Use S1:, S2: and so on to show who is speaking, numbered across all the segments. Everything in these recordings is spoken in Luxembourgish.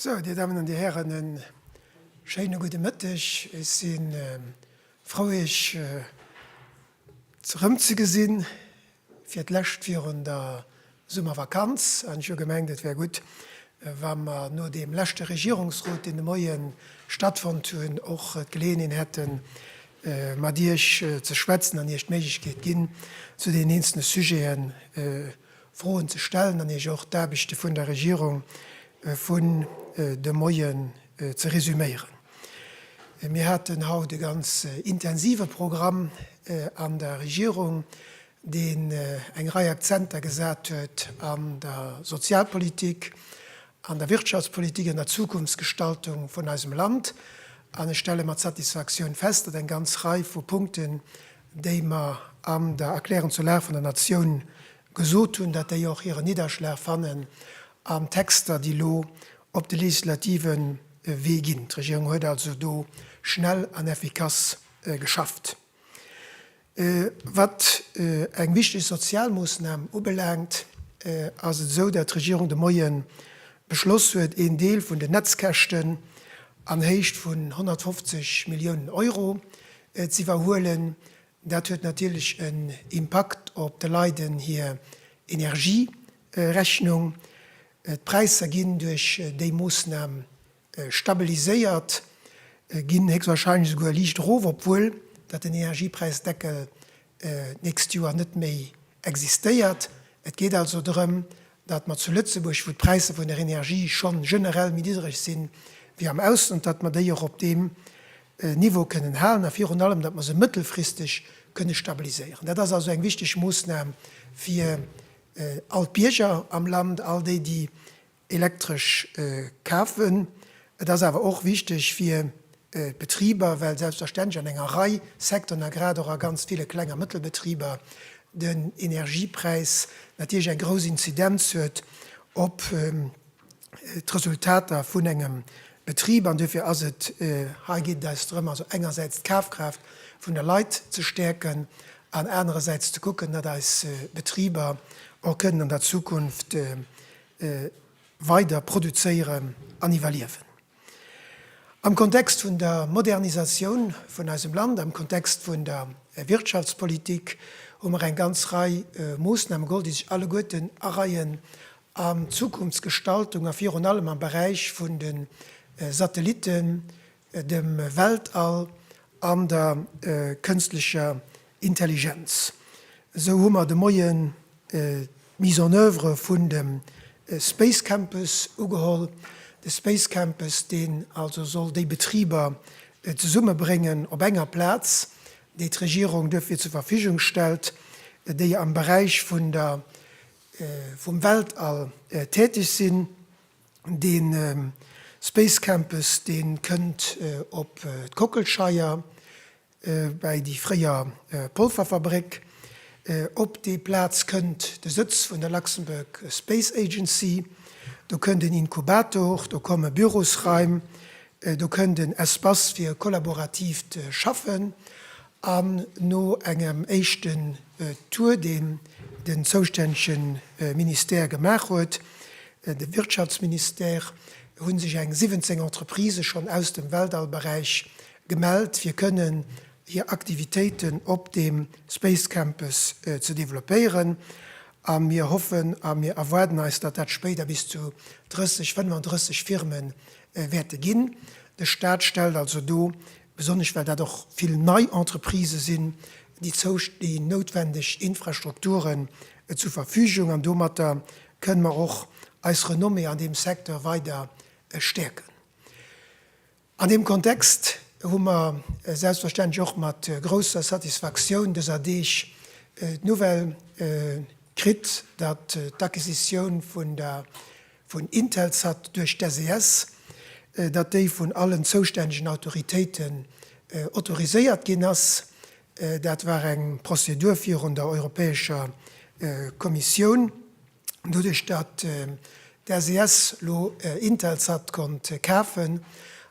S1: So, Dir Damen an Dir Hären, en schéine gudde Mëtteg. Ech si ähm, frou Iech äh, zerëmzegesinn, fir d'lescht virun der Summervakanz, an ech hu gemengt, et wär gutt, wa mer no deem leschte Regierungsrot, deen de Moie stattfonnt hunn, och d'Geleeënheen hätten, mat Iech ze schwätzen an Iech d'Méiglechkeet ginn, zu deenen eenzele Sujete Froen ze stellen an Iech och d'Aarbechte vun der Regierung vun de Moie ze resüméieren. Mir haten haut e ganz intensive Programm an der Regierung. deen eng Rei Akzenter gesat huet an der Sozialpolitik, an der Wirtschaftspolitik, an der Zukunftsgestaltung vun eisem Land. An ech stelle mat Satisfaktioun fest, datt eng ganz Rei vu Punkten, déi mer an der Erklärung zur Lag vun der Natioun gesot hunn, datt déi och hiren Nidderschlag fannen an Texter, déi elo op de legislative Wee ginn. D'Regierung huet also do schnell an effikass geschafft. Wat eng wichteg sozial Moossnam ubelaangt, ass et esou, dat d'Regierung de Moie beschloss huet, een Deel vun den Netzkäschten an Héicht vun 150 Milliounen Euro z'iwwerhuelen. Dat huet natierlech en Impakt op de Leiden hir Energierechnung. D'Präisser ginn duerch déi Moossnam stabiliséiert ginn, héchstwahrscheinlech esouguer liicht erof, obwuel datt den Energiepräisdeckel d'nächst Joer net méi existéiert. Et geet also drëm, datt mer zu Lëtzebuerg, wou d'Präisser vun der Energie scho generell méi niddreg si wéi am Ausland, datt mer déi och op deem Niveau kënnen halen a virun allem, datt mer se mëttelfristeg kënne stabiliséieren. Dat ass also eng wichteg Moossnam fir all d'Bierger am Land, all déi, déi Elektresch kafen. Et ass awer och wichteg fir d'Betriber, well selbstverständlech an enger Rei Secteuren a grad och a ganz ville Kleng a Mëttelbetriber den Energiepräis natierlech eng grouss Inzidenz huet op d'Resultater vun engem Betrib. An duerfir ass et, hei geet et eis drëm, also engersäits d'Kafkraaft vun de Leit ze stäerken an anerersäits ze kucken, datt eis Betriber och kënnen an der Zukunft weider produzéieren an iwwerliewen. Am Kontext vun der Modernisatioun vun eisem Land, am Kontext vun der Wirtschaftspolitik hu mer eng ganz Rei Moosname geholl, déi sech alleguerten areien an d'Zukunftsgestaltung a virun allem am Beräich vun de Satellitten, dem Weltall an der kënstlecher Intelligenz. Esou hu mer de Moien d'Mise en oeuvre vun dem Space Campus ugeholl, de Space Campus, deen also soll déi Betriber zesummebréngen op enger Plaz, déi d'Regierung duerfir zur Verfügung stellt, déi am Beräich vun der, vum Weltall täteg sinn. De Space Campus dee kënnt op d'Kockelscheier bäi déi fréier Polverfabréck. Op déi Plaz kënnt de Sëtz vun der Luxembourg Space Agency. Do kënnt en Inkubator, do komme Bürosraim, do kënnt en Espace fir kollaboratiivt Schaffen An no engem éischten Tour, deen den zoustännege Ministère gemaach huet, de Wirtschaftsministère, hu sech eng 17 Entreprisë schonn aus dem Weltall-Beräich gemellt, fir kënnen hir Aktivitéiten op dem Space Campus ze developpéieren. A mir hoffen a mir erwaarden eis, datt dat spéider bis zu 30, 35 Firme wäerte ginn. De Staat stellt also do besonnesch well dat och vill nei Entreprisë sinn, déi déi noutwendeg Infrastrukturen zur Verfügung, an domatter kënnen mer och eis Renommée an deem Secteur weider stäerken. An deem Kontext hu mer selbstverständlech och mat grousser Satisfaktioun dëser Deeg d'Nouvelle kritt, datt d'Acquisitioun vun der vun Intelsat duerch d'SES, datt déi vun allen zoustännegen Autoritéiten autoriséiert ginn ass. Dat war eng Prozedur virun der Europäescher Kommissioun. Doduerch datt d'SES elo Intelsat konnt kafen,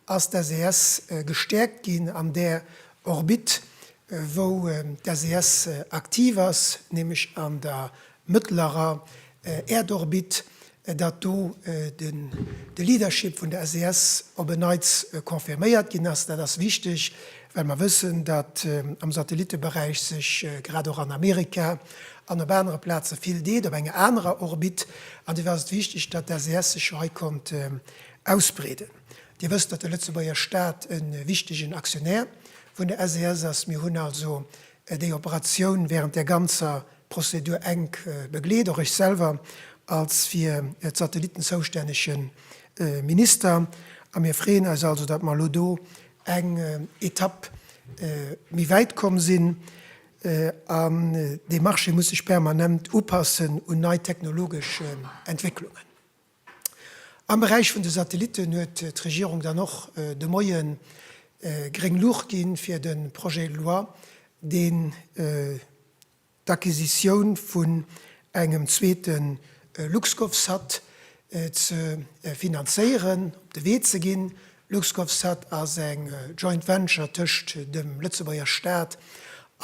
S1: ass d'SES gestäerkt ginn an där Orbite, wou d'SES aktiv ass, nämlech an der mëttlerer Äerdorbit, datt do de Leadership vun der SES op en Neits confirméiert ginn ass. Dat ass wichteg, well mer wëssen, datt am Satellitteberäich sech grad och an Amerika an op anere Plaze vill deet, op enger anerer Orbit. An dofir ass et wichteg, datt d'SES sech jo hei konnt ausbreeden. Dir wësst, datt de Lëtzebuerger Staat e wichtegen Actionnaire vun der SES ass. Mir hunn also déi Operatioun wärend där ganzer. Prozedur enk begleet, och ech selwer als fir d'Satellitten zoustännege Minister. A mir freeën eis also, datt mer elo do eng Etapp méi wäit komm sinn. An dee Marché muss sech permanent upassen un nei technologesch Entwécklungen. Am Beräich vun de Satellitten huet d'Regierung dann och de Moie gréng Luucht gi fir de Projet de loi, deen d'Acquisitioun vun engem zweete LuxGovSat ze finanzéieren, op de Wee ze ginn. LuxGovSat ass eng Joint Venture tëscht dem Lëtzebuerger Staat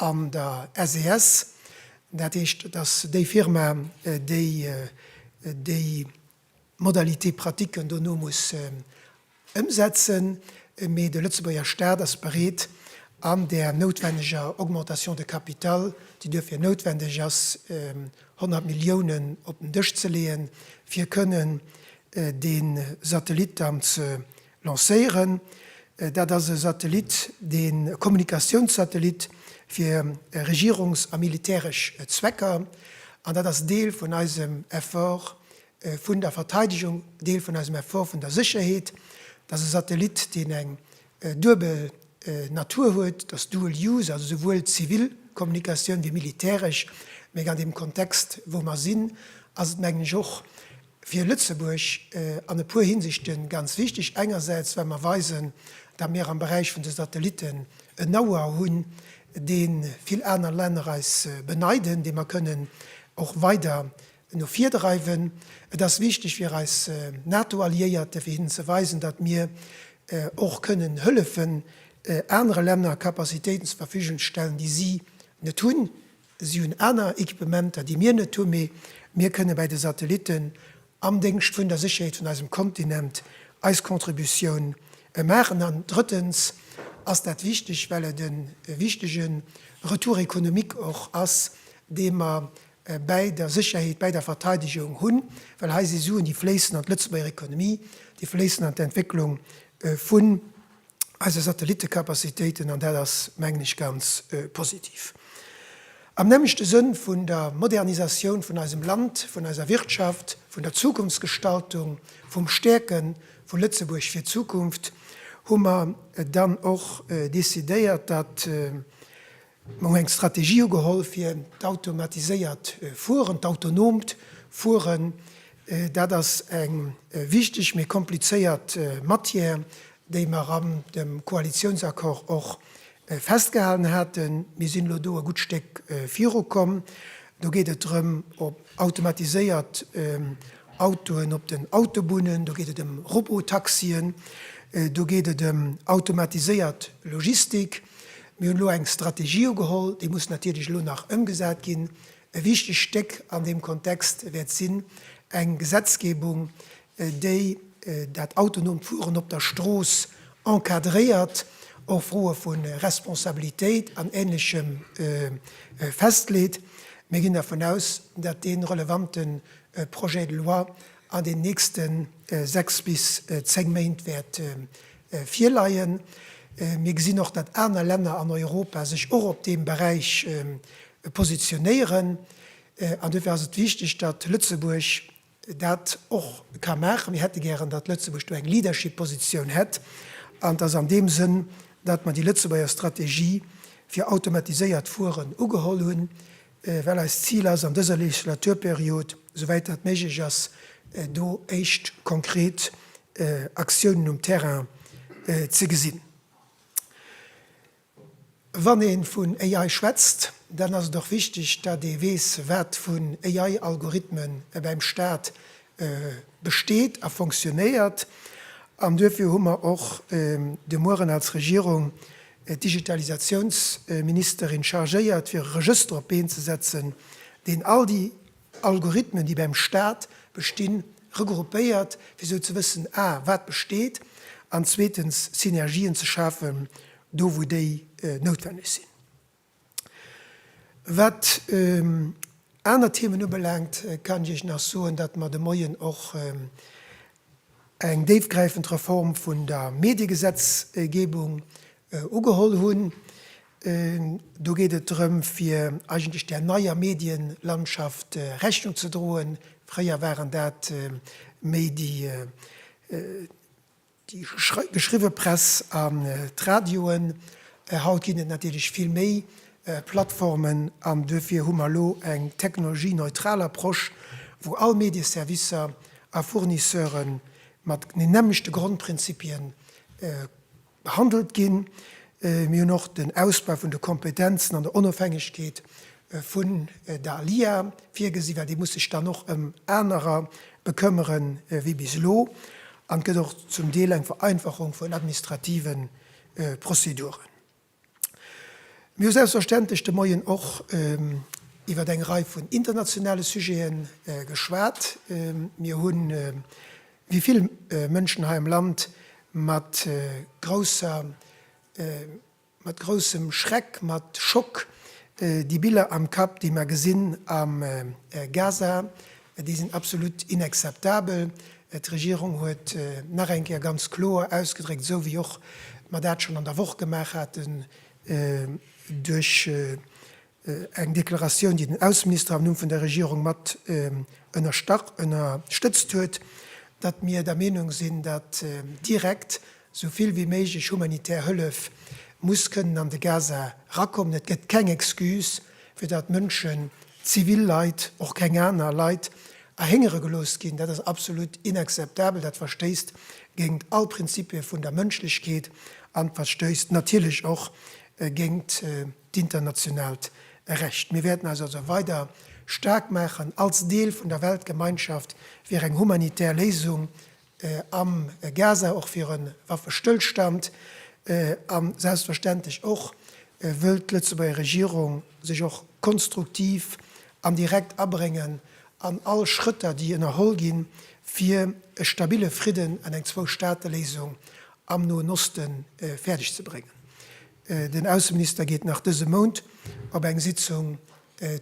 S1: an der SES. Dat heescht, et ass déi Firma, déi déi Modalités pratiques dono muss ëmsetzen, mee de Lëtzebuerger Staat ass bereet, an där noutwenneger Augmentation de capital, déi duerfir noutwendeg ass, 100 Milliounen op den Dësch ze leeën, fir kënnen dee Satellit dann ze lancéieren. Dat ass e Satellit, dee Kommunikatiounssatellit fir Regierungs a militäresch Zwecker. An dat ass Deel vun eisem Effort vun der Verteidegung, Deel vun eisem Effort vun der Sécherheet. Dat ass e Satellit, deen eng duebel Natur huet, dass dual use, also souwuel zivil Kommunikatioun wéi militäresch, mä an deem Kontext, wou mer sinn, ass et, mengen ech, och fir Lëtzebuerg an e puer Hinsichte ganz wichtig, engersäits well mer weisen, datt mir am Beräich vun de Satellitten en Know-how hunn, dee vill aner Länner eis beneiden, dee mer kënnen och weider no vir dreiwen. Et ass wichteg fir eis NATO-Alliéierte fir hinnen ze weisen, datt mir och kënnen hëllefen anere Länner Capacitéiten zur Verfügung ze stellen, déi si net hunn. Si hunn aner Equipementer, déi mir net hunn, mee mir kënne bäi de Satellitten am Déngscht vun der Sécherheet vun eisem Kontinent eis Contributioun maachen. An drëttens ass dat wichteg, well et e wichtege Retour économique och ass, dee mer bäi der Sécherheet, bäi der Verteidegung hunn, well hei si Suen, déi fléissen an d'Lëtzebuerger Ekonomie, déi fléissen an d'Entwécklung vun eise Satellittecapacitéiten, an dat ass, mengen ech, ganz positiv. Am nämmlechte Sënn vun der Modernisatioun vun eisem Land, vun eiser Wirtschaft, vun der Zukunftsgestaltung, vum Stäerke vu Lëtzebuerg fir d'Zukunft hu mer dann och decidéiert, datt Mir hu eng Strategie ugeholl fir d'automatiséiert Fueren, d'autonoomt Fueren. Dat ass eng wichteg, mee komplizéiert Matière, déi mer an dem Koalitiounsaccord och festgehalen haten. Mir sinn elo do e gutt Stéck viru komm. Do geet et drëm, op automatiséiert Autoen op den Autobunnen, do geet et ëm Robotaxien, do geet et ëm automatiséiert Logistik. Mir hunn elo eng Strategie ugeholl, déi muss natierlech elo nach ëmgesat ginn. E wichtegt Stéck an deem Kontext wäert sinn eng Gesetzgebung, déi dat autonoomt Fueren op der Strooss encadréiert, och Froe vu Responsabilitéit an Ähnlechem festleet. Mir ginn dervun aus, datt dee relevante Projet de loi an den nächste sechs bis zéng Méint wäert virleien. Mir gesinn och, datt aner Länner an Europa sech och op deem Beräich positionéieren. An duerfir ass et wichteg, datt Lëtzebuerg dat och ka maachen. Mir hätte gären, datt Lëtzebuerg do eng Leadership-Positioun hätt. An et ass an deem Sënn, datt mer déi Lëtzebuerger Strategie fir automatiséiert Fueren ugeholl hunn. well eist Zil ass, an dëser Legislaturperiod, souwäit dat méiglech ass, do éischt konkret Aktiounen um Terrain ze gesinn. Wann ee vun AI schwätzt, dann ass et och wichteg, datt ee weess, wat vun AI-Algorithmen bäim Stat besteet a fonctionnéiert an duerfir hu mer och de Mueren als Regierung d'Digitalisatiounsministerin chargéiert, fir e Regëster op d'Been ze setzen, deen all déi Algorithmen, déi beim Stat bestinn, regroupéiert, fir esou ze wëssen, a wat besteet an zweetens Synergien ze schafen, do wou déi noutwenneg sinn. Wat aner Themen ubelaangt, kann ech Iech nach soen, datt mer de Moien och eng déifgräifend Reform vun der Mediegesetzgebung ugeholl hunn. Do geet et drëm, fir eigentlech där neier Medienlandschaft Rechnung ze droen. Fréier waren dat méi déi, Déi geschriwwe Press an d'Radioen. Haut ginn et natierlech vill méi Plattformen an duerfir hu mer elo eng technologieneutral Approche, wou all Medieservicer a Fournisseure mat den nämmlechte Grondprinzipien behandelt ginn. Mir hunn och den Ausbau vun de Kompetenzen an der Onofhängegkeet vun der ALIA virgesi war, dee muss sech dann och ëm anerer bekëmmere wéi bis elo, an et gëtt och zum Deel eng Vereinfachung vun administrative Prozeduren. Mir hu selbstverständlech de Moien och iwwer eng Rei vun internationale Sujete geschwat. Mir hu wéi vill Mënschen hei am Land mat grousser Mat groussem Schreck, mat Schock, déi Biller am Kapp, déi mer gesinn am Gaza, déi sinn absolut inakzeptabel. D'Regierung huet nach eng Kéier ganz kloer ausgedréckt, esou wéi och mer dat schonn an der Woch gemaach haten, duerch Eng Deklaratioun, déi den Ausseminister am Numm vun der Regierung mat ënnerstëtzt huet, datt mir der Meenung sinn, datt direkt esou vill wéi méiglech humanitär Hëllef muss kënnen an de Gaza erakommen. Et gëtt keng Excuse, fir datt Mënschen, zivil Leit, och keng aner Leit, erhéngere gelooss ginn. Dat ass absolut inakzeptabel. Dat verstéisst géingt all Prinzipie vun der Mënschlechkeet an verstéisst natierlech och géingt d'internationaalt Recht. Mir wäerten eis also weider staark maachen als Deel vun der Weltgemeinschaft fir eng humanitär Léisung am Gaza, och fir e Waffestëllstand a selbstverständlech och wëll d'Lëtzebuerger Regierung sech och konstruktiv an direkt abréngen an all Schrëtter, déi ënnerholl ginn, fir e stabile Fridden an eng Zwou-Staate-Léisung am Noen Osten fäerdeg ze bréngen. Den Ausseminister geet nach dëse Mount op eng Sitzung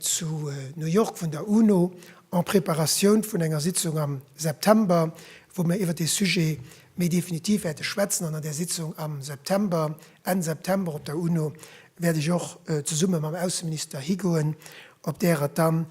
S1: zu New York vun der UNO, en préparatioun vun enger Sitzung am September, wou mir iwwer dee Sujet méi definitiv wäerte schwätzen. An an där Sitzung am September, Enn September op der UNO, wäert ech och zesumme mam Ausseminister higoen, op där et dann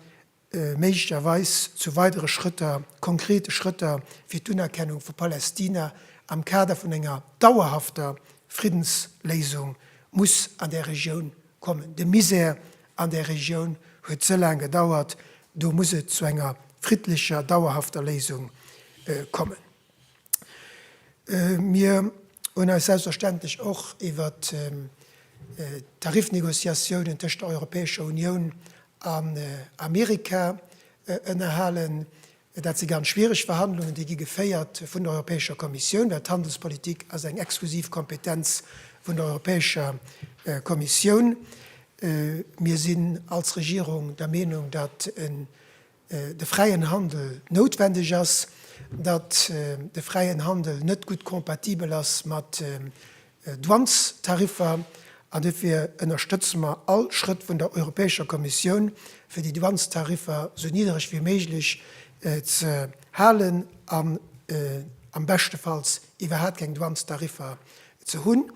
S1: méiglecherweis zu weidere Schrëtter, konkrete Schrëtter fir d'Unerkennung vu Palästina am Kader vun enger dauerhafter Friddensléisung muss an där Regioun kommen. De Misär an där Regioun huet ze laang gedauert. Do muss et zu enger friddlecher, dauerhafter Léisung kommen. Mir hunn eis selbstverständlech och iwwert d'Tariffnegociatiounen tëscht der Europäescher Unioun an Amerika ënnerhalen. Dat si ganz schwiereg Verhandlungen, déi gi geféiert vun der Europäescher Kommissioun, well d'Handelspolitik ass eng exklusiv Kompetenz vun der Europäescher Kommissioun. Mir sinn als Regierung der Meenung, datt e de fräien Handel noutwendeg ass, datt de fräien Handel net gutt compatibel ass mat Douanestariffer, an dofir ënnerstëtze mer all Schrëtt vun der Europäescher Kommissioun, fir déi Douanestariffer esou niddreg wéi méiglech ze halen an am beschtefalls iwwerhaat keng Douanestariffer ze hunn,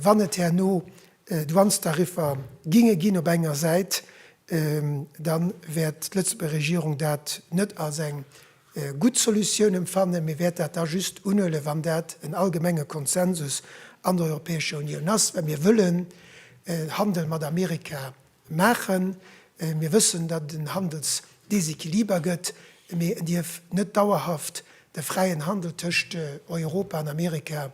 S1: wann et herno D'Dwuanstariffer ginge ginn op enger Säit, da wäert d'Lëtzebuerger Regierung dat net als eng gutt Solutioun emfannen, mee wäert dat da just unhuelen, wann dat en allgemenge Konsensus an der Europäescher Unioun ass, well mir wëllen Handel mat Amerika maachen. Mir wëssen, datt et en Handelsdesequiliber gëtt, mee en dierf net dauerhaft de fräien Handel tëscht Europa an Amerika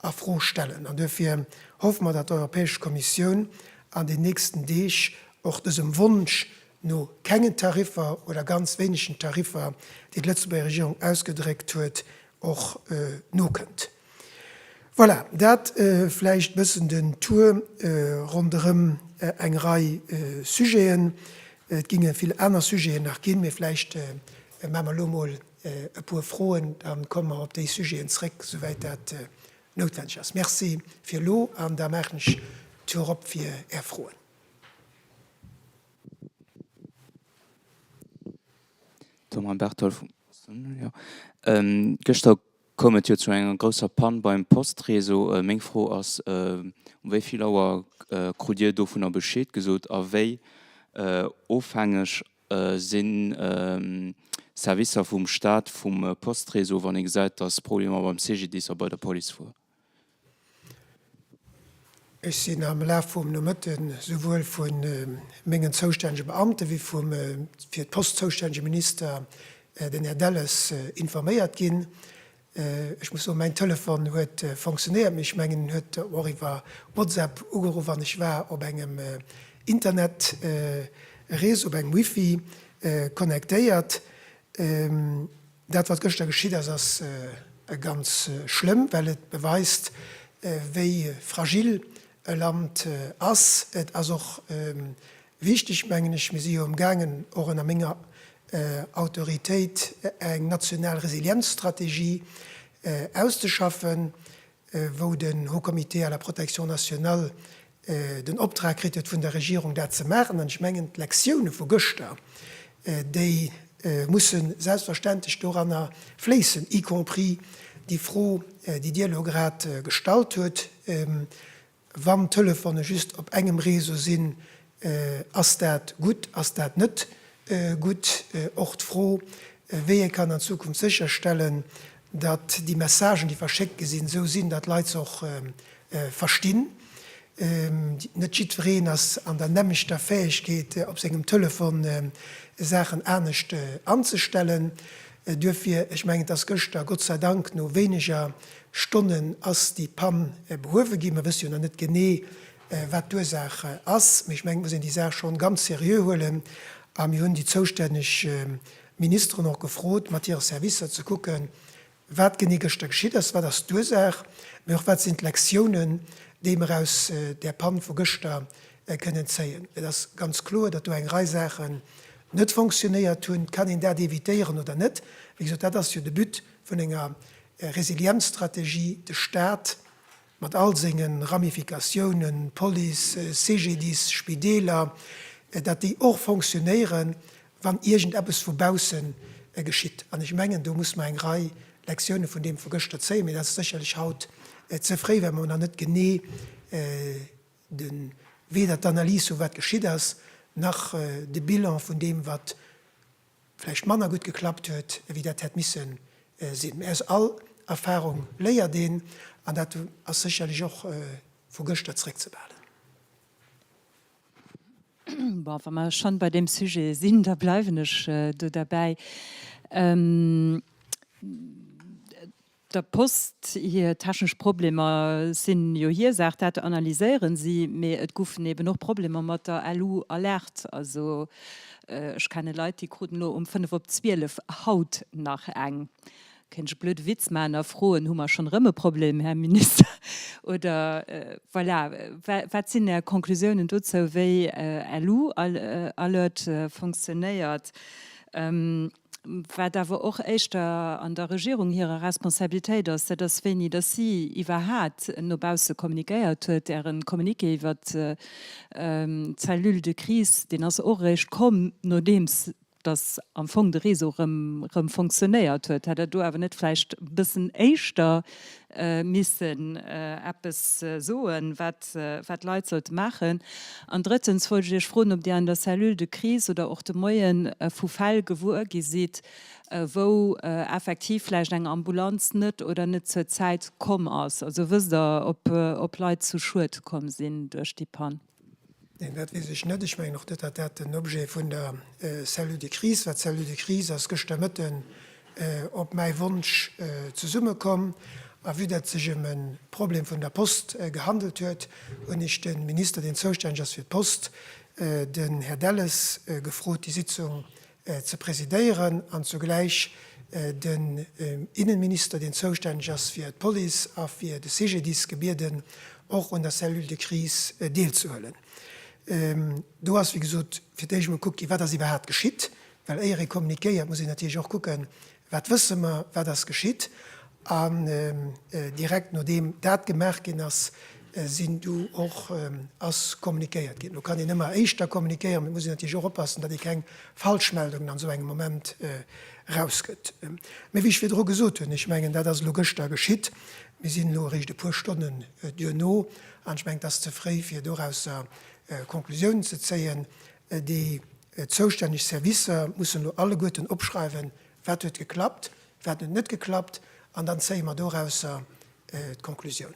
S1: a Fro stellen. An duerfir hoffe mer, datt d'Europäesch Kommissioun an den nächsten Deeg och dësem Wonsch no kengen Tariffer oder ganz wéinegen Tariffer, deen d'Lëtzebuerger Regierung ausgedréckt huet, och nokënnt. Voilà, dat vläicht e bëssen den Tour ronderëm eng Rei Sujeten. Et géinge vill aner Sujeten nach ginn, mee vläicht maache mer elo emol e puer Froen, da komme mer op déi Sujeten zrëck, souwäit dat noutwendeg ass. Merci fir elo, an da maachen ech d'Tür op fir Är Froen.
S2: Thomas Berthold vum Posten. Gëschter koum et jo zu enger grousser Pann beim Postreseau. Meng Fro ass, Um wéi vill Auer krut Dir dovunner Bescheed gesot a wéi ofhängeg si Servicer vum Staat, vum Postréseau, wann ee gesäit, datt Problemer beim CGDIS a bei der Police wor.
S1: Ech sinn am Laf vum Nomëtte souwuel vu mengen zoustännege Beamte wéi vum fir d'Post zoustännege Minister, den Här Delles, informéiert ginn. Ech muss soen, mäin Telefon huet fonctionnéiert, mee ech mengen en huet och iwwer WhatsApp ugeruff an ech war op engem Internetreseau, op engem Wifi connectéiert. Dat wat gëschter geschitt ass, ass ganz schlëmm, well et beweist wéi fragil e Land ass. Et ass och Wichteg mengen ech, mir si jo emgaangen, och ënner menger Autoritéit, eng national Resilienzstrategie auszeschaffen, wou den Haut Comité à la protection nationale den Optrag kritt huet vun der Regierung, dat ze maachen. An ech mengen, d'Lektione vu gëschter, déi musse selbstverständlech doranner fléissen, y compris déi Fro, déi Dir elo grad gestallt hutt, Wann d'Telefone just op engem Réseau sinn, ass dat gutt, ass dat net gutt? Och d'Fro, wéi ee kann an Zukunft sécherstellen, datt déi Messagen, déi verschéckt gi sinn, esou sinn, datt d'Leit se och verstinn. Net jiddwereen ass an der nämmlechter Fäegkeet, op sengem Telefon Saachen anescht anzestellen. Duerfir, ech mengen, et ass gëschter, Gott sei Dank, no wéineger Stonnen ass déi Pann behuewe ginn. Mer wësse jo nach net genee, wat d'Ursaach ass, mee ech mengen, et muss een déi Saach schonn ganz seriö huelen. A mir hunn déi zoustänneg Ministeren och gefrot, mat hire Servicer ze kucken, wat genee gëschter geschitt ass, wat ass d'Ursaach, mee och wat sinn d'Lektiounen, déi mer aus där Pann vu gëschter kënnen zéien. Et ass ganz kloer, datt do eng Rei Saache net fonctionnéiert hunn, kann een dat évitéieren oder net? Wéi gesot, dat ass jo de But vun enger Resilienzstrategie, de Stat mat all senge Ramificatiounen, Police, CGDIS, Spideeler, dat déi och fonctionnéieren, wann iergend eppes vu bausse geschitt. An ech mengen, do muss mer eng Rei Lektione vun deem vu gëschter zéien, mee dat ass sécherlech haut ze fréi, well mer nach net genee de weder d'Analys vu wat geschitt ass, nach de Bilan vun deem wat vläicht manner gutt geklappt huet ewéi dat hätt misse sinn. Mä aus all Erfarung léiert een, an dat ass sécherlech och vu gëschter zréckzebehalen.
S3: Bon, wa mer schonn bei deem Sujet sinn, da bleiwen ech do derbäi. Der Post hir technesch Problemer sinn jo hir Saach, dat analyséieren si. Mee et goufen eben och Problemer mat der LU Alert. Also ech kenne Leit, déi kruten elo um fënnef op zwielef haut nach eng. Kéint ech e blöde Witz maachen a froen, Hu mer schonn erëm e Problem, Här Minister? Oder voilà, wat sinn Är Conclusiounen dozou, wéi LU Alert funktionéiert? Wat awer och éischter an der Regierung hirer Responsabilitéit ass, dat ass wéini datt si iwwerhaat no bausse kommuniquéiert huet. Ären Communiqué iwwert d'Cellule de crise, deen ass och eréischt komm, nodeems datt am Fong de Réseau erëm fonctionnéiert huet. Hätt Der do awer net vläicht e bëssen éischter missen eppes soen, wat d'Leit sollte maachen? An drëttens wollt ech Iech froen, ob Dir an der Cellule de crise oder och de Moie vu Fäll gewuer gi sidd, wou effektiv vläicht eng Ambulanz net oder net zur Zäit komm ass? Also wësst Der, ob Leit zu Schued komm sinn duerch déi Pann? Neen, dat weess
S1: ech net. Ech mengen och net, datt dat den Objet vun der Cellule de crise war. D'Cellule de crise ass gëschter Mëtten op mäi Wonsch zesummekomm. A vue datt et sech ëm e Problem vun der Post gehandelt huet, hunn ech de Minister, deen zoustänneg ass fir d'Post, den Här Delles, gefrot, déi Sitzung ze presidéieren an zugläich den Innenminister, deen zoustänneg ass fir d'Police a fir de CGDIS, gebieden, och un der Cellule de crise deelzehuelen. Do ass, wéi gesot, fir d'éischt emol gekuckt ginn, wat ass iwwerhaapt geschitt, well éier ee communiquéiert, muss een natierlech och kucken, Wat wësse mer, wat ass geschitt? An direkt nodeem dat gemaach ginn ass, sinn du och, ass kommunikéiert ginn. Lo kann een ëmmer éischter kommunikéieren, mee et muss een natierlech och oppassen, datt ee keng Falschmeldungen an esou engem Moment erausgëtt. Mee wéi ech virdru gesot hunn, ech mengen, dat ass elo gëschter geschitt, mir sinn elo eréischt e puer Stonnen duerno an ech mengen, et ass ze fréi, fir dorausser Konklusiounen ze zéien. Déi zoustänneg Servicer mussen elo alleguerten opschreiwen, wat huet geklappt, wat huet net geklappt, an dann zéie mer dorausser d'Conclusiounen.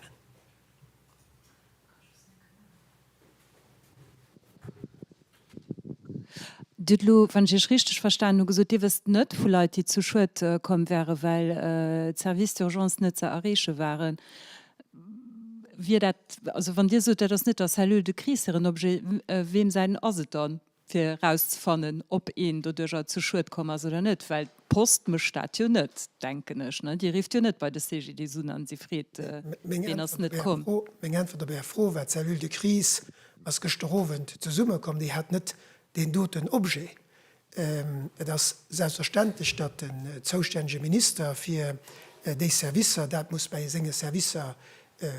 S3: Dir hutt elo, wann ech Iech richteg verstanen hu gesot, Dir wësst net vu Leit, déi zu Schued komm wären, well d'Services d'urgence net ze erreeche waren. Wier dat, also wann Dir sot, dat ass net der Cellule de crise hiren Objet, weem säin ass et dann, fir erauszefannen, ob een doduerjer zu Schued komm ass oder net? Well d'Post mécht dat jo net, denken ech. Déi rifft jo net bei de CGDIS un an si freet, wien ass net komm. Meng Äntwert op Är
S1: Fro war, D'Cellule de crise ass gëschter Owend zesummekomm, déi hat net deen doten Objet. Et ass selbstverständlech, datt den zoustännege Minister fir déi Servicer dat muss bei senge Servicer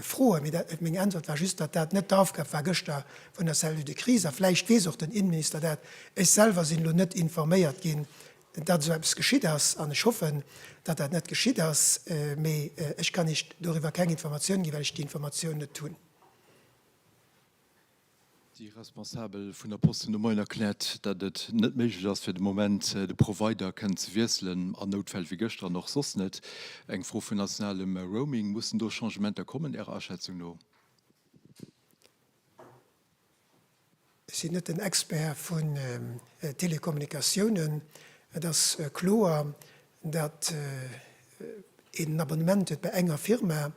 S1: froen. Mee dat, meng Äntwert war just, datt dat net d'Aufgab war gëschter vun der Cellule de crise. A vläicht weess och den Innenminister dat, ech selwer sinn elo net informéiert ginn, datt esou eppes geschitt ass. An ech hoffen, datt dat net geschitt ass. Mee ech kann Iech doriwwer keng Informatioun ginn, well ech déi Informatioun net hunn.
S4: Déi Responsabel vun der Posten hu mail erkläert, datt et net méiglech ass fir de Moment de Provider kënnen ze wiesselen, an Noutfäll wéi gëschter an och soss net. Eng Fro vun nationalem Roaming, mussen do Changementer kommen Ärer Aschätzung no?
S1: Ech sinn net den Expert vun Telekommunikatiounen. Et ass kloer, datt een en Abonnement huet bei enger Firma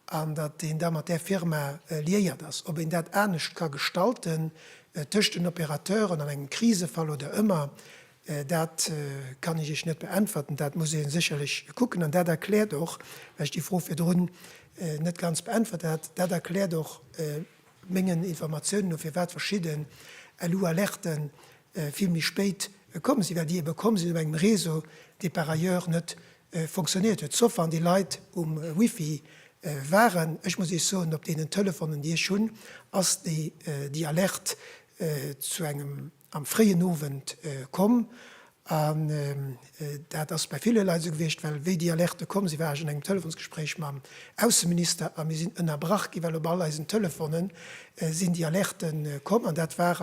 S1: an datt een da mat där Firma liéiert ass, ob een dat anescht ka gestalten tëscht den Opérateuren an engem Krisefall oder ëmmer, dat kann ech Iech net beäntwerten. Dat muss ee sécherlech kucken an dat erkläert och, well ech déi Fro virdrun net ganz beäntwert hat, dat erkläert och, Mengen Informatiounen no firwat verschidden LU-Alerten vill méi spéit komm sinn, well déi ebe komm sinn op engem Réseau dee par ailleurs net fonctionnéiert huet, sauf wann déi Leit um Wifi waren. Ech muss Iech soen, op deenen Telefonen déi ech hunn ass déi Alerte zu engem am fréien Owend komm an dat ass bei ville Leit esou gewiescht, well wéi déi Alerte komm sinn, war ech an engem Telefonsgespréich mam Ausseminister a mir sinn ënnerbrach ginn, well op all eisen Telefone sinn déi Alerte komm an dat war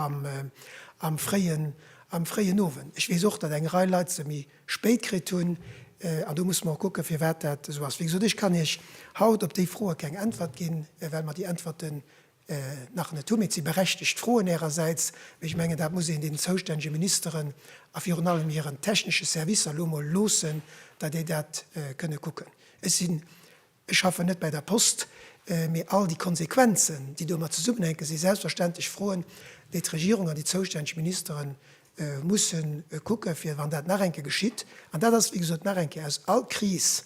S1: am fréien Owend. Ech weess och, datt eng Rei Leit se méi spéit kritt hunn an do musse mer och kucke firwat dat esou ass. Wéi gesot, ech kann Iech haut op déi Froe keng Äntwert ginn, well mer déi Äntwerte nach net hunn. Et si berechtegt Froen Ärersäits, mä ech mengen, dat muss een den zoustännege Ministeren a virun allem hiren technesche Servicer elo emol loossen, datt déi dat kënne kucken. Ech sinn, ech schaffen net bäi der Post, mä all déi Konsequenzen, déi domat zesummenhänken, si selbstverständlech Froen, déi d'Regierung an déi zoustänneg Ministere musse kucken, fir wann dat nach eng Kéier geschitt, an dat ass, wéi gesot, nach eng Kéier aus all Kris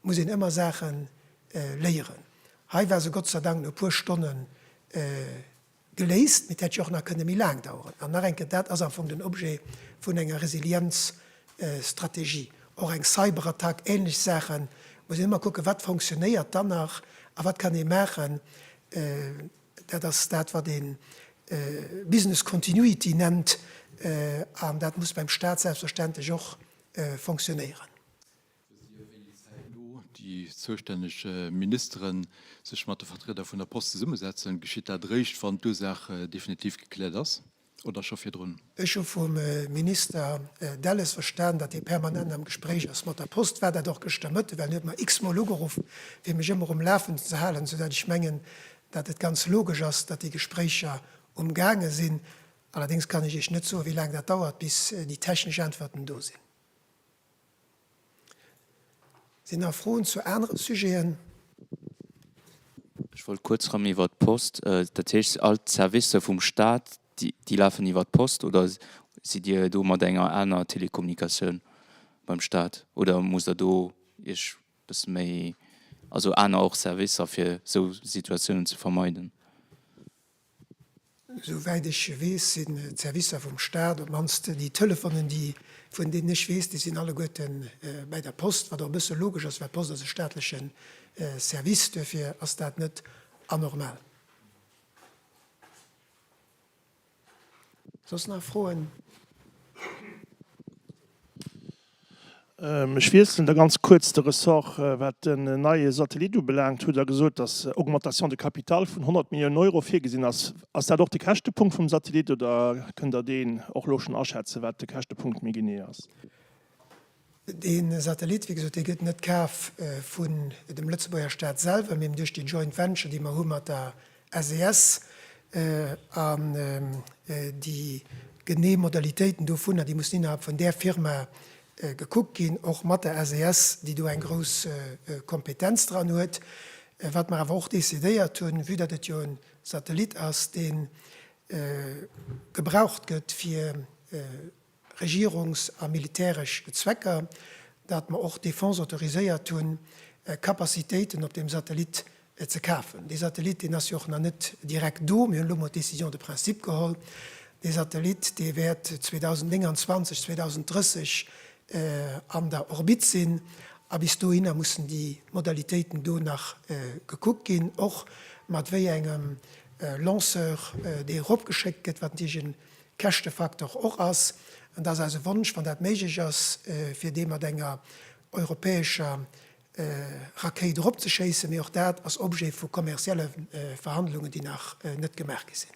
S1: muss een ëmmer Saache léieren. Hei war se Gott sei Dank no e puer Stonne geléist, mee et hätt jo och nach kënne méi laang daueren. An nach eng Kéier, dat ass am Fong den Objet vun enger Resilienzstrategie. Och eng Cyberattack, ähnlech Saache muss een ëmmer kucken, wat fonctionnéiert dann nach a wat kann ee maachen. Dat ass dat, wat ee Business Continuity nennt, an dat muss beim Stat selbstverständlech och fonctionnéieren. Wësst Dir, wéi
S4: zäitno déi zoustänneg Ministere sech mat de Vertrieder vun der Post zesummesetzen? Geschitt dat eréischt, wann d'Ursaach definitiv gekläert ass, oder scho virdrun? Ech hu vum
S1: Minister Delles verstan, datt hie permanent am Gespréich ass mat der Post. War dat och gëschter Mëtte, well hien huet mer x-mol ugeruff, fir mech ëmmer um Lafenden ze halen, soudatt ech mengen, datt et ganz logesch ass, datt déi Gespréicher umgaange sinn. Allerdéngs kann ech Iech net soen, wéi laang dat dauert, bis déi technesch Äntwerten do sinn. Sinn nach Froen zu anere Sujeten?
S2: Ech wollt kuerz rëm iwwert d'Post. Dat heescht, all d'Servicer vum Staat, déi lafen iwwert d'Post oder sidd Dir do mat enger aner Telekommunikatioun beim Staat oder musst Der do Iech e bësse méi, also aner och Servicer, fir esou Situatiounen ze vermeiden?
S1: Souwäit ech weess, sinn d'Servicer vum Staat, op d'mannst déi Telefonen, déi, vun deenen ech weess, déi sinn alleguerten bäi der Post, wat och e bësse logesch ass, well d'Post ass e staatleche Service. Duerfir ass dat net anormal. Soss nach Froen?
S5: Ech wiesselen da ganz kuerz de Ressort. Wat den neie Satellit ubelaangt, hutt Der gesot, dass Augmentation de capital vun 100 Milliounen Euro virgesinn ass. Ass dat och de Käschtepunkt vum Satellit oder kënnt Der deen och elo schonn aschätzen, wat de Käschtepunkt méi genee ass?
S1: De Satellit, wéi gesot, dee gëtt net kaf vun dem Lëtzebuerger Staat selwer, mee duerch déi Joint Venture, déi mer hu mat der SES, An déi genee Modalitéiten dovunner, déi mussen innerhalb vun där Firma gekuckt ginn, och mat der SES, déi do eng grouss Kompetenz dran huet. Wat mer awer och decidéiert hunn, vue datt et jo e Satellit ass, dee gebraucht gëtt fir Regierungs a militäresch Zwecker, datt mer och d'Defense autoriséiert hunn, Capacitéiten op deem Satellit ze kafen. Dee Satellit, deen ass jo och nach net direkt do. Mir hunn elo emol d'Décision de principe geholl. Dee Satellit, dee wäert 2029, 2030 an der Orbite sinn. A bis dohinner mussen déi Modalitéiten do nach gekuckt ginn, och mat wéi engem Lanceur dee eropgeschéckt gëtt, wat natierlech en Käschtefaktor och ass, an dat ass eise Wonsch, wann dat méiglech ass, fir dee mat enger europäescher Rakéit eropzeschéissen, mee och dat ass Objet vu kommerzielle Verhandlungen, déi nach net gemaach gi sinn.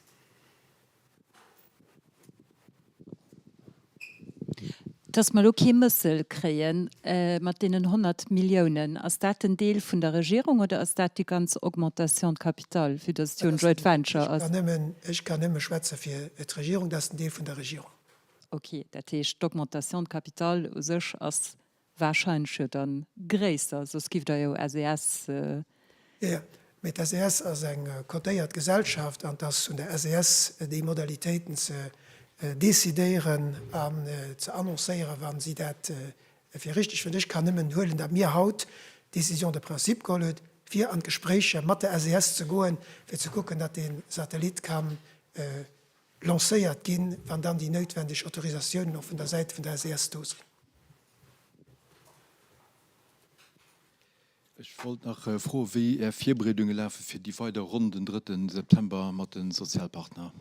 S3: Dass mer elo kee Mëssel kréie mat deenen 100 Milliounen, ass dat den Deel vun der Regierung oder ass dat déi ganz Augmentation de capital, vue dass et jo en joint venture ass? Ech kann
S1: nëmme schwätze fir d'Regierung. Dat ass den Deel vun der Regierung. Okay, dat
S3: heescht, d'Augmentation de capital u sech ass warscheinlech jo da gréisser, soss giff Der jo SES Ë,
S1: mee d'SES ass eng cotéiert Gesellschaft an 't ass un der SES, déi Modalitéiten ze decidéieren an ze annoncéieren, wa si dat fir richtig fënnt. Ech kann nëmmen huelen, datt mir haut d'Décision de principe geholl huet, fir an d'Gespréicher mat der SES ze goen, fir ze kucken, datt dee Satellit ka lancéiert ginn, wann dann déi noutwendeg Autorisatiounen och vun der Säit vun der SES do sinn.
S4: Ech wollt nach froen, wéi Är Virbereedunge lafe fir déi weider Ronn den drëtten September mat de Sozialpartner.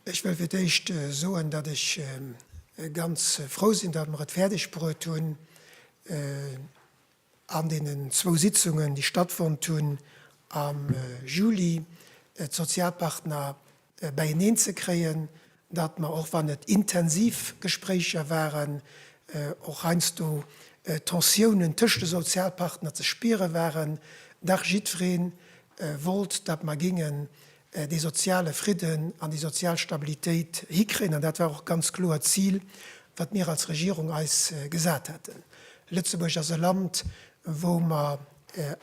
S1: Ech wëll fir d'éischt soen, datt ech ganz frou sinn, datt mer et fäerdeg bruet hunn, an deenen zwou Sitzungen, déi stattfonnt hunn am Juli, d'Sozialpartner beieneen ze kréien, datt mer, och wann et intensiv Gespréicher waren, och heiansdo Tensiounen tëscht de Sozialpartner ze spiere waren, dach jiddweree wollt, datt mer géingen dee soziale Fridden an déi sozial Stabilitéit hikréien. An dat war och ganz kloer d'Zil, wat mir als Regierung eis gesat haten. Lëtzebuerg ass e Land, wou mer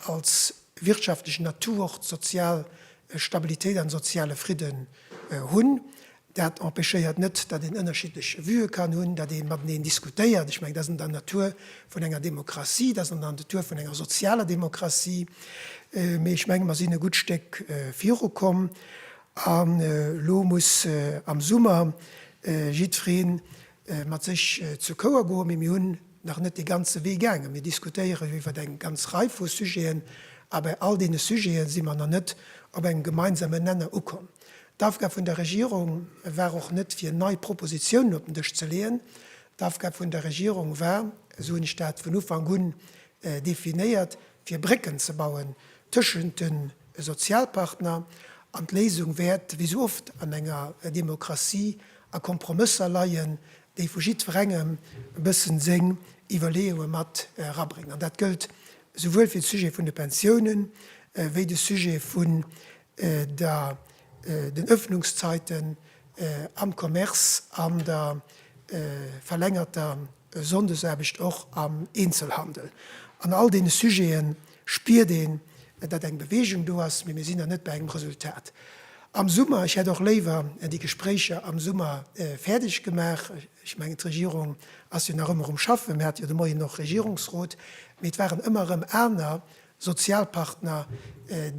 S1: als wirtschaftlechen Atout och d'sozial Stabilitéit an de soziale Fridden hunn. Dat empêchéiert net, datt een ënnerschiddlech Vueë kann hunn, datt ee mateneen diskutéiert. Ech mengen, dat ass an der Natur vun enger Demokratie, dat ass an der Natur vun enger sozialer Demokratie. Mee ech menge mer sinn e gutt Stéck virukomm an elo muss am Summer jiddweree mat sech zur Kouer goen. Mee mir hunn nach net dee ganze Wee gaangen. Mir diskutéieren jo iwwer eng ganz Rei vu Sujeten, a bei all deene Sujete si mer nach net op engem gemeinsamen Nenner ukomm. D'Aufgab vun der Regierung war och net, fir nei Propositionen op den Dësch ze leeën. D'Aufgab vun der Regierung war, esou hunn ech dat vun Ufank un definéiert, fir Brécken ze bauen tëschent de Sozialpartner. An d'Léisung wäert, wéi esou oft an enger Demokratie, a Kompromësser leien, déi vu jiddwerengem e bëssen seng Iwwerleeunge mat erabréngen, an dat gëllt souwuel fir de Sujet vun de Pensiounen, wéi de Sujet vun der den Öffnungszeiten am Commerce an der verlängerter Sonndesaarbecht och am Eenzelhandel. An all deene Sujeten spiert een, datt eng Beweegung do ass, mee mir sinn nach net bei engem Resultat am Summer. Ech hätt och léiwer déi Gespréicher am Summer fäerdeg gemaach. Ech mengen, d'Regierung ass jo nach ëmmer um Schaffen. Mir hate jo de Moien och Regierungsrot, mee et waren ëmmer erëm aner Sozialpartner,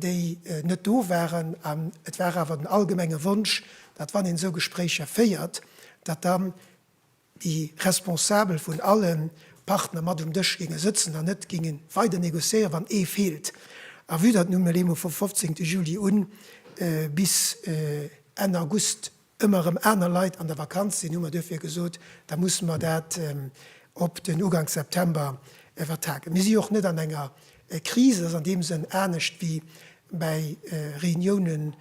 S1: déi net do waren. An et war awer den allgemenge Wonsch, datt wann een esou Gespréicher féiert, datt dann déi Responsabel vun alle Partner mat um Dësch géinge sëtzen an net géinge weider negociéieren, wann ee feelt, à vue datt nun emol vum 15 Juli un bis Enn August ëmmer erëm aner Leit an der Vakanz sinn, hu mer duerfir gesot, da musse mer dat op den Ugank September vertagen. Mir si jo och net an enger Kris, et ass an deem Sënn anescht wéi bei Reuniounen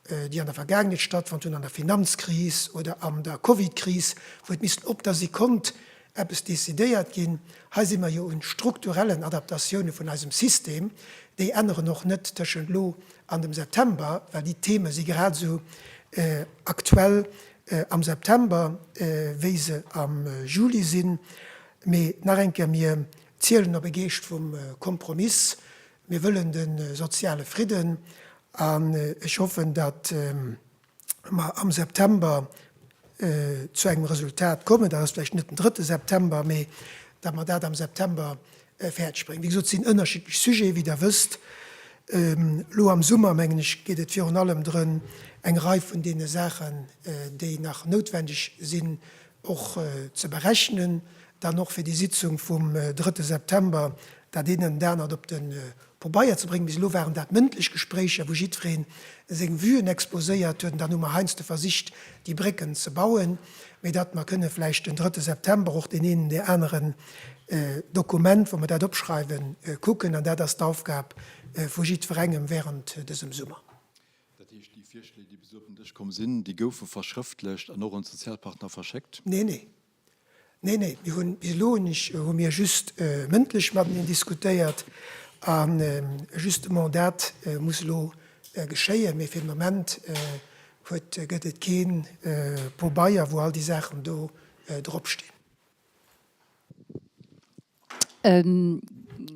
S1: déi an der Vergaangenheet stattfonnt hunn, an der Finanzkris oder an der Covidkris, wou et missten op der Sekonnt eppes decidéiert ginn. Hei si mer jo u strukturellen Adaptatioune vun eisem System. Déi änneren och net tëschent elo an dem September, well déi Theme si grad esou aktuell am September, wéi se am Juli sinn. Mee nach eng Kéier, mir zielen op e Geescht vum Kompromiss. Mir wëllen de soziale Fridden an ech hoffen, datt mer am September zu engem Resultat kommen, dat ass vläicht net den drëtte September, mee datt mer dat am September fäerdeg bréngen. Wéi gesot, et sinn ënnerschiddlech Sujete, wéi Der wësst. Elo am Summer, mengen ech, geet et virun allem drëm, eng Rei vun deene Saachen, déi nach noutwendeg sinn, och ze berechnen, dann och fir déi Sitzung vum drëtte September dat eent an dat anert op de Pobeier ze bréngen. Bis elo waren dat mëndlech Gespréicher, wou jiddweree seng Vuen exposéiert huet. An dann hu mer heiansdo versicht, déi Brécken ze bauen, mee datt mer kënne vläicht den drëtte September och deen eenen, dee aneren Dokument, wou mer dat opschreiwen, kucken. An dat ass d'Aufgab vu jiddwerengem während dësem Summer. Dat heescht, déi
S4: Virschléi, déi bis elo op den Dësch komm sinn, déi goufe verschrëftlecht an och un d'Sozialpartner verschéckt? Nee, nee.
S1: Nee, nee. Mir hunn, bis elo hunn ech, hu mir just mëndlech mateneen diskutéiert a justement dat muss elo geschéien. Mee fir den Moment huet, gëtt et kee Pobeier, wou all déi Saachen do dropstinn.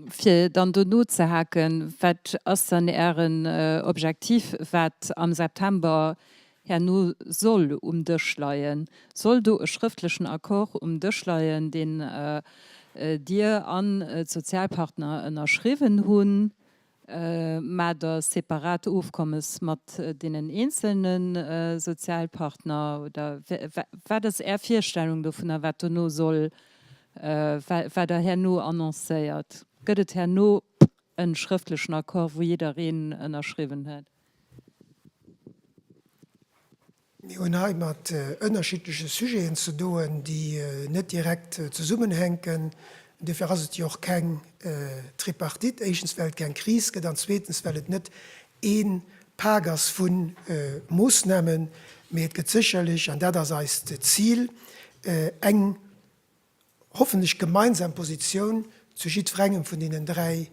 S3: Fir dann do nozehaken, Wat ass dann Ären Objektiv, wat am September herno soll um Dësch leien? Soll do e schrëftlechen Accord um Dësch leien, deen Dir an d'Sozialpartner ënnerschriwwen hunn? mä de separate Ofkommes mat deenen eenzelne Sozialpartner, oder wat ass Är Virstellung dovunner, wat dono soll, wat Der herno annoncéiert? Gëtt et herno e schrëftlechen Accord, wou jiddereen ënnerschriwwen huet?
S1: Mir hunn hei mat ënnerschiddleche Sujeten ze doen, déi net direkt zesummenhänken. Dofir ass et jo och keng Tripartite, éischtens well et keng Kris gëtt an zweetens well et net ee Pak ass vu Moossnamen, mee et gëtt sécherlech, an dat ass eist Zil, eng hoffentlech gemeinsam Positioun zu jiddwerengem vun deenen dräi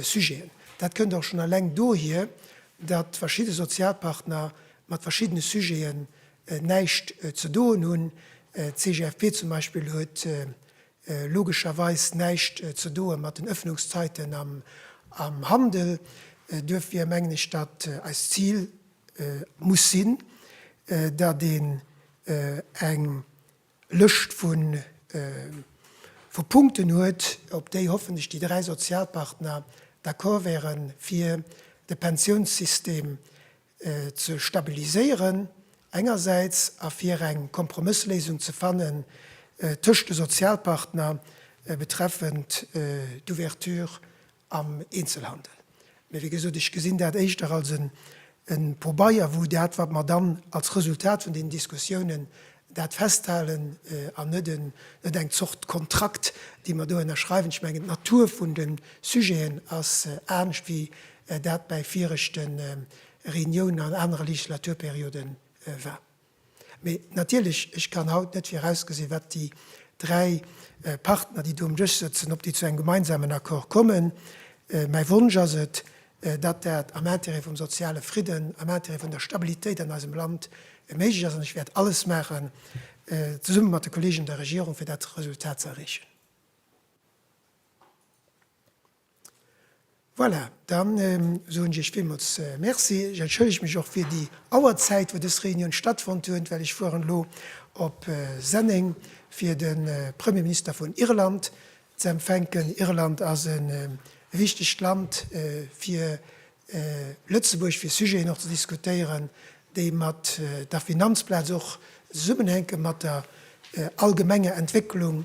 S1: Sujeten. Dat kënnt och schonn eleng dohier, datt verschidde Sozialpartner mat verschiddene Sujeten näischt ze doen hunn. D'CGFP zum Beispill huet logescherweis näischt ze doen mat den Öffnungszeiten am Handel. Duerfir mengen ech, datt eist Zil muss sinn, datt een eng Lëscht vu Punkten huet, op déi hoffentlech déi dräi Sozialpartner d'accord wäere fir de Pensiounssystem ze stabiliséieren engersäits a fir eng Kompromëssléisung ze fanne tëscht de Sozialpartner betreffend d'Ouverture am Eenzelhandel. Mee wéi gesot, ech gesinn dat éischter als e Pobeier, wou dat, wat mer dann als Resultat vun deenen Diskussiounen dat festhalen, an net eng Zort Kontrakt, dee mer do ënnerschreiwen. Ech mengen, d'Natur vun de Sujeten ass anescht, wéi dat bäi viregte Reuniounen an anere Legislaturperiode war. Mee natierlech, ech kann haut net virausgesinn, wat déi dräi Partner, déi do um Dësch sëtzen, ob déi zu engem gemeinsamen Accord kommen. Mäi Wonsch ass et, datt dat am Intérêt vum soziale Fridden, am Intérêt vun der Stabilitéit an eisem Land méiglech ass. An ech wäert alles maachen, zesumme mat de Kollegen an der Regierung, fir dat Resultat ze erreechen. Voilà, dann soen ech Iech villmools Merci. Ech entschëllege mech och fir déi Auerzäit, wou dës Reunioun stattfonnt huet, well ech fueren elo op Senneng, fir de Premierminister vun Irland ze empfänken. Irland ass e wichtegt Land fir Lëtzebuerg fir Sujeten och ze diskutéieren, déi mat der Finanzplaz och zesummenhänke mat der allgemenger Entwécklung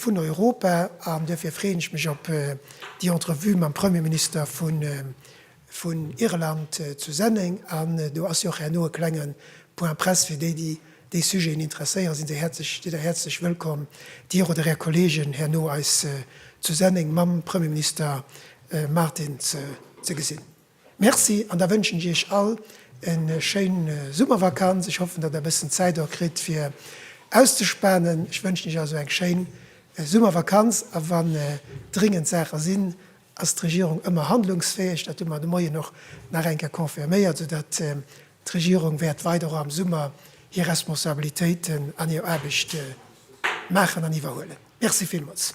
S1: vun Europa. An duerfir freeën ech mech op déi Entrevue mam Premierminister vun Irland zu Senneng. An do ass jo och herno e klenge Point presse fir déi, déi déi Sujeten interesséieren, sinn Dir da häerzlech wëllkomm, Dir oder Är Kolleegen herno eis zu Senneng mam Premierminister Martin ze gesinn. Merci an da wënschen ech Iech all e schéin Summervakanz. Ech hoffen, datt Der e bëssen Zäit och kritt fir auszespanen. Ech wënschen Iech also eng schéin Summervakanz a wann dringend Saache sinn, ass d'Regierung ëmmer handlungsfäeg. Dat hu mer de Moien och nach eng Kéier confirméiert, soudatt D'Regierung wäert weider och am Summer hir Responsabilitéiten an hir Aarbecht maachen an iwwerhuelen. Merci villmools.